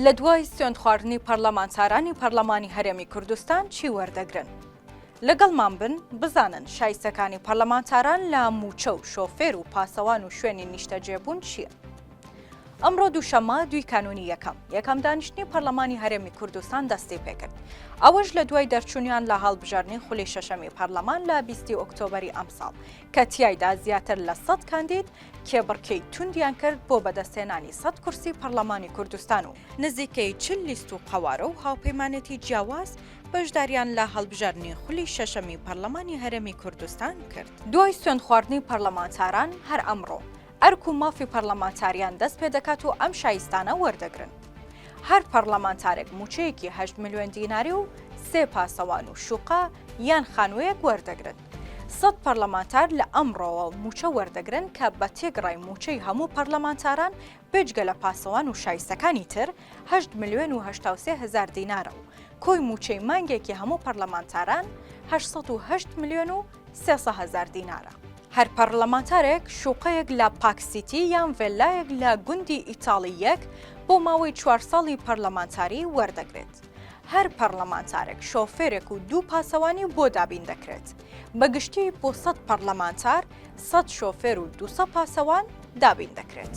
لەدوای سوێندخواردنی پەرلەمانتارانی پەرلەمانی هەرێمی کوردستان چی وەردەگرن؟ لەگەڵمان بن بزانن شایستەکانی پەرلەمانتاران لە مووچە و شۆفێر و پاسەوان و شوێنی نیشتەجێبوون چییە؟ ئەمڕۆ دووشەممە دوی کانونی یەکەم یەکەم دانیشتنی پەرلەمانی هەرێمی کوردستان دەستی پێکرد ئەوەش لە دوای دەرچوونیان لە هەڵبژاردنی خولی شەشەمی پەرلەمان لە بیستی ئۆکتۆبری ئەمساڵ کە تیایدا زیاتر لە سەد کاندید کێبڕکێی توندیان کرد بۆ بەدەستهێنانی سەد کورسی پەڕلەمانی کوردستان و نزیکەی چل لیست و قەوارە و هاوپەیمانێتی جیاواز بەشداریان لە هەڵبژاردنی خولی شەشەمی پەڕلەمانی هەرێمی کوردستان کرد. دوای سوێندخواردنی پەڕلەمانتاران هەر ئەمڕۆ ئەرک و مافی پەڕلەمانتاریان دەست پێدەکات و ئەم شایستانە وەردەگرن. هەر پەڕلەمانتارێک مووچەیەکی هەشت ملیۆن دیناری و سێ پاسەوان و شوقە یان خانووەیەک وەردەگرن. سەد پەرلەمانتار لە ئەمڕۆوە مووچە وەردەگرن کە بە تێگڕای مووچەی هەموو پەرلەمانتاران بێجگە لە پاسەوان و شایستەکانی تر هەشت ملیۆن و هەشتا و سێ هەزار دینارە و کۆی مووچەی مانگێکی هەموو پەرلەمانتاران هەشت سەد و هەشت ملیۆن و سێ سەد هەزار دینارە. هەر پەرلەمانتارێک شوقەیەک لە پاک سیتی یان ڤێللایەک لە گوندی ئیتاڵی یەک بۆ ماوەی چوار ساڵی پەرلەمانتاری وەردەگرێت. هەر پەڕلەمانتارێک شۆفێرێک و دوو پاسەوانی بۆ دابین دەکرێت بە گشتی بۆ سەد پەڕلەمانتار سەد شۆفێر و دوسە پاسەوان دابین دەکرێت.